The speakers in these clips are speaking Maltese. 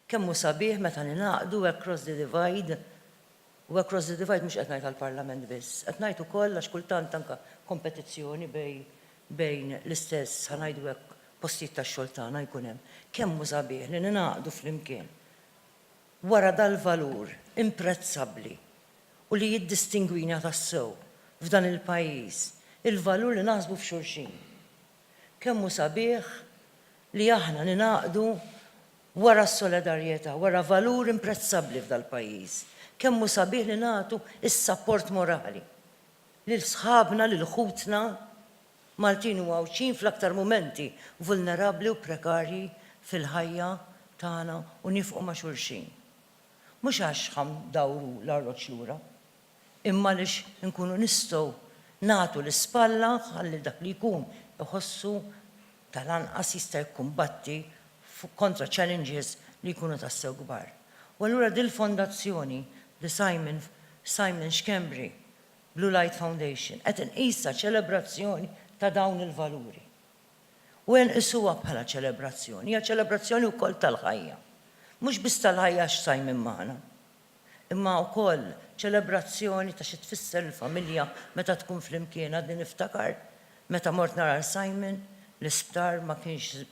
Kemm hu sabiħ meta ningħaqdu across the divide, u across the divide mhux qed ngħid għall-Parlament biss, qed ngħid ukoll għax kultant anke kompetizzjoni bej bejn l-istess, ħa ngħidu hekk, postijiet tax-xogħol tagħna jkun hemm. Kemm hu sabiħ li ningħaqdu flimkien wara dal-valur imprezzabbli u li jiddistingwina tassew f'dan il-pajjiż il-valur li naħsbu f'xulxin. Kemm hu sabiħ li aħna ningħaqdu wara s-solidarjetà, wara valur imprezzabbli f'dal-pajjiż. Kemm hu sabiħ li nagħtu s-sapport morali lil sħabna, lil ħutna Maltin u Għawdxin fl-aktar mumenti vulnerabbli u prekarji fil-ħajja tagħna u nifqu ma' xulxin. Mhux għax ħa ndawru l-arloġġ lura, imma għaliex inkunu nistgħu nagħtu l-ispalla ħalli dak li jkun iħossu tal-anqas jista' jikkumbatti kontra challenges li jkunu tassew kbar. U allura dil-fondazzjoni, The Simon Simon Schembri Blue Light Foundation, qed inqisha ċelebrazzjoni ta' dawn il-valuri. u jenqisuha bħala ċelebrazzjoni, hija ċelebrazzjoni wkoll tal-ħajja. Mhux biss tal-ħajja għax sajmin magħna, imma wkoll ċelebrazzjoni ta' xi tfisser il-familja meta tkun flimkien. Għadni niftakar meta mort nara l-sajmin, l-isptar ma kienx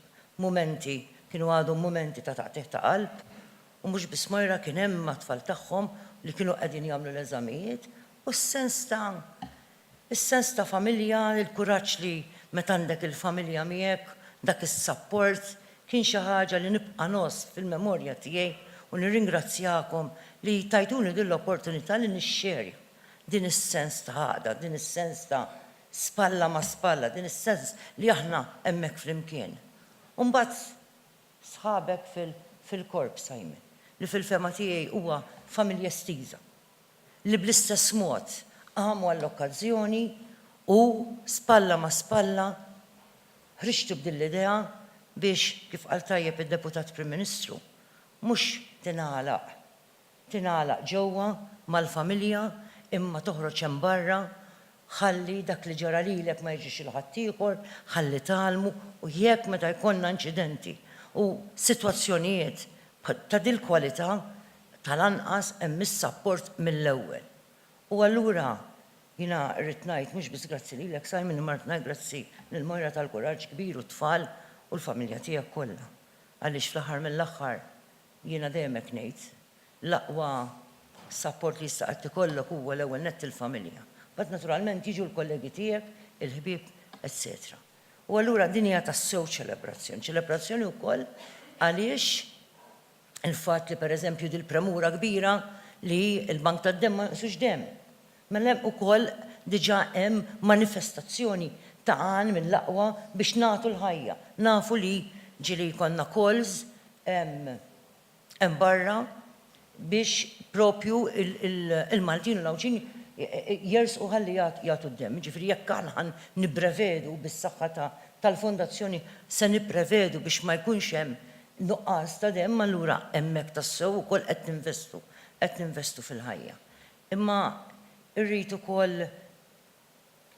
mumenti, kienu għadhom mumenti ta' taqtigħ ta' qalb. U mhux biss Moira kien hemm mat-tfal tagħhom li kienu qegħdin jagħmlu l-eżamijiet u s-sens ta' Is-sens ta' familja, il-kuraġġ li meta għandek il-familja miegħek, dak is-sapport, kien xi ħaġa li nibqa' ngħożż fil-memorja tiegħi u nirringrazzjakom li tajtuni din l-opportunità li nixxerja din is-sens ta' għaqda, din is-sens ta' spalla ma' spalla, din is-sens li aħna hemmhekk flimkien. U mbagħad sħabek fil-korp, Simon, li fil-fehma tiegħi huwa familja estiża. li bl-istess mod qamu għall-okkażjoni u spalla ma' spalla ħriġtu b'din l-idea biex, kif qal tajjeb id-Deputat Prim Ministru, mhux tingħalaq tingħalaq ġewwa mal-familja imma toħroġ hemm barra, ħalli dak li ġara lilek ma jiġrix lil ħaddieħor, ħalli tgħallmu u jekk meta jkollna inċidenti u sitwazzjonijiet ta' dil-kwalità Tal-anqas hemm is-sapport mill-ewwel. U allura jiena rrid ngħid mhux biss grazzi lilek Simon imma rrid ngħid grazzi lil Moira tal-kuraġġ kbir u t-tfal u l-familja tiegħek kollha. Għaliex fl-aħħar mill-aħħar jiena dejjem hekk ngħid, l-aqwa sapport li jista' qatt ikollok huwa l-ewwel nett il-familja. Mbagħad naturalment jiġu l-kollegi tiegħek, il-ħbieb, etċetera. U allura din hija tassew ċelebrazzjoni. Ċelebrazzjoni wkoll għaliex il-fatt li pereżempju dil-premura kbira li l-bank tad-demm ma jonqsux demm. Mela hemm ukoll diġà hemm manifestazzjoni ta' għan mill-aqwa biex nagħtu l-ħajja. Nafu li ġieli jkollna calls hemm barra biex proprju l-Maltin u l-Għawdxin jersqu ħalli jagħtu d-demm. Jiġifieri jekk aħna ħa nipprevedu bis-saħħa tal-Fondazzjoni se nipprevedu biex ma jkunx hemm Nuqqas ta' demm allura hemmhekk tassew ukoll qed ninvestu, qed ninvestu fil-ħajja. Imma rrid ukoll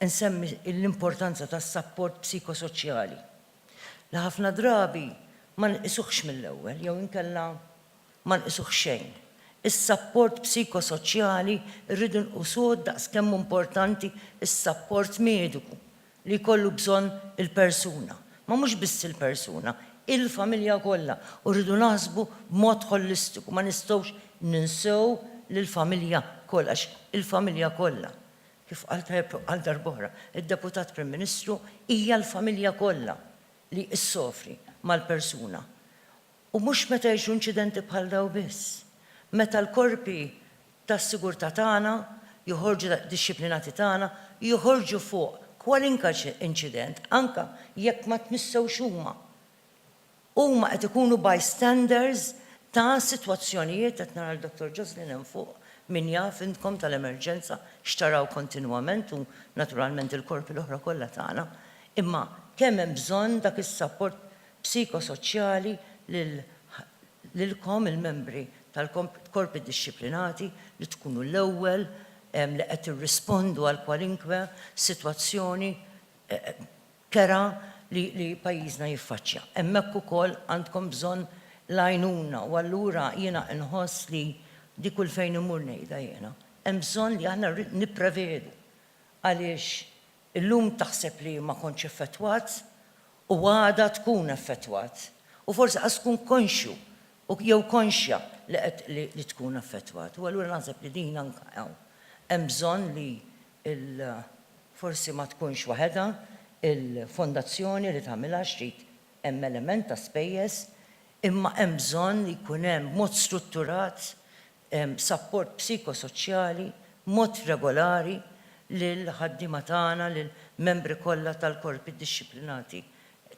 insemmi l-importanza tas-sapport psikosoċjali li ħafna drabi ma nqisuhx mill-ewwel jew inkella ma nqisuh xejn. Is-sapport psikosoċjali rridu nqusuh daqs kemm hu importanti s-sapport mediku li jkollu bżonn il-persuna, ma mhux biss il-persuna, il-familja kollha u rridu naħsbu b'mod ħolistiku, ma nistgħux ninsew lill-familja kollha għax il-familja kollha, kif qal tajjeb għal darb'oħra d-Deputat Prim Ministru, hija l-familja kollha li issofri mal-persuna. U mhux meta jġru inċidenti bħal dawn biss. Meta l-korpi tas-sigurtà tagħna joħorġu dixxiplinati tagħna joħorġu fuq kwalinka inċident anke jekk ma tmissewx huma. Huma qed ikunu bystanders ta' sitwazzjonijiet, qed nara lil Dottor Joslin hemm fuq, min jaf intkom tal-emerġenza x'taraw kontinwament u naturalment il-korpi l-oħra kollha tagħna. Imma kemm hemm bżonn dak is-sapport psikosoċjali lilkom il-membri tal-korpi dixxiplinati li tkunu l-ewwel li qed tirrispondu għal kwalinkwe sitwazzjoni kerha li pajjiżna jiffaċċja. Hemmhekk ukoll għandkom bżonn l-għajnuna u allura jiena inħoss li di kull fejn immur ngħidha jiena, hemm bżonn li aħna nipprevedu għaliex Illum taħseb li ma kontx effettwat u għada tkun effettwat u forsi qas tkun konxju jew konxja li qed li tkun effettwat. U allura naħseb li din anke hawn hemm bżonn li l forsi ma tkunx waħedha l-fondazzjoni li tagħmilha għax trid hemm element ta' spejjeż imma hemm bżonn li jkun hemm b'mod strutturat sapport psikosoċjali b'mod regolari lill-ħaddiema tagħna, lill-membri kollha tal-korpi dixxiplinati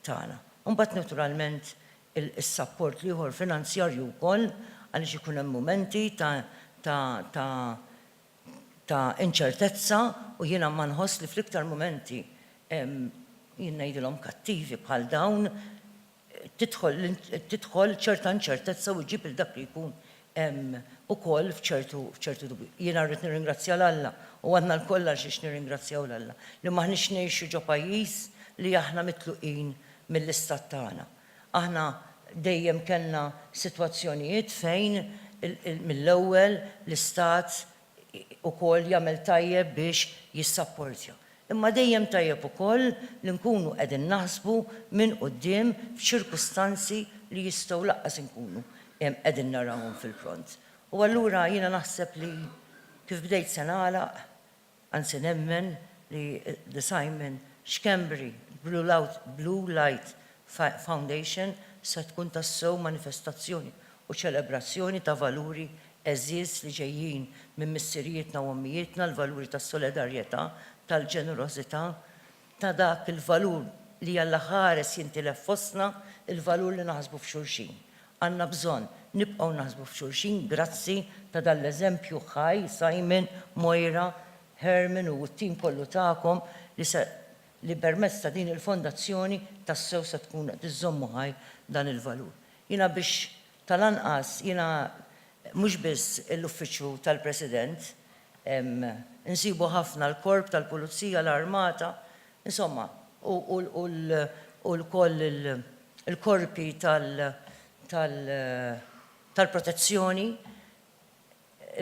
tagħna. U mbagħad naturalment is-sapport l-ieħor finanzjarju wkoll għaliex ikun hemm mumenti ta' ta' ta' ta' inċertezza u jiena ma nħoss li fl-iktar mumenti jien ngħidilhom kattivi bħal dawn, tidħol ċerta inċertezza u ġġib lil dak li jkun ukoll f'ċertu dubju. Jiena rrid nirringrazzja 'l Alla, u għandna lkoll għal xiex nirringrazzjaw 'l Alla, li m'aħniex ngħixu ġo pajjiż li aħna mitluqin mill-istat tagħna. Aħna dejjem kellna sitwazzjonijiet fejn mill-ewwel l-istat ukoll jagħmel tajjeb biex jissapportja. Imma dejjem tajjeb ukoll li nkunu qegħdin naħsbu minn quddiem f'ċirkustanzi li jistgħu lanqas inkunu qegħdin narawhom fil-pront. U allura jiena naħseb li kif bdejt se nagħlaq, anzi nemmen li The Simon Schembri Blue Light Foundation se tkun tassew manifestazzjoni u ċelebrazzjoni ta' valuri għeżież li ġejjin minn missirijietna u ommijietna, l-valuri tas-solidarjetà, tal-ġenerożità, ta' dak il-valur li Alla ħares jintilef fostna, il-valur li naħsbu f'xulxin. Għandna bżonn nibqgħu naħsbu f'xulxin grazzi ta' dan l-eżempju ħaj, Simon, Moira, Herman u t-tim kollu tagħkom li se li permezz ta' din il-fondazzjoni tassew se tkun qed iżżommu ħaj dan il-valur. Jiena biex tal-anqas jiena mhux biss l-Uffiċċju tal-President, insibu ħafna l-Korp tal-Pulizija, l-Armata, insomma, u wkoll il-korpi tal-protezzjoni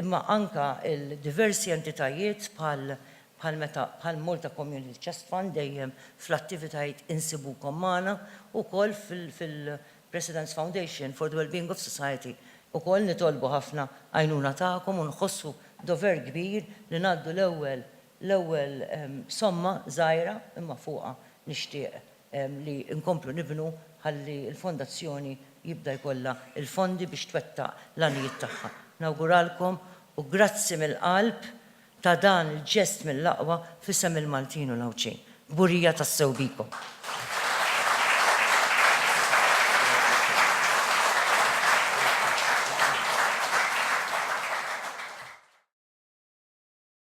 imma anke l-diversi entitajiet bħal bħal meta bħal Malta Community Chest Fund dejjem fl-attivitajiet insibukom magħna u wkoll fil fil-President's Foundation for the Wellbeing of Society ukoll nitolbu ħafna għajnuna tagħkom u nħossu dover kbir li ngħaddu l-ewwel L-ewwel somma żgħira imma fuqha nixtieq li nkomplu nibnu ħalli l-Fondazzjoni jibda jkollha l-fondi biex twettaq l-għanijiet tagħha. Nawguralkom u grazzi mill-qalb ta' dan il-ġest mill-aqwa f'isem il-Maltin u l-Għawdxin. Kburija tassew bikom.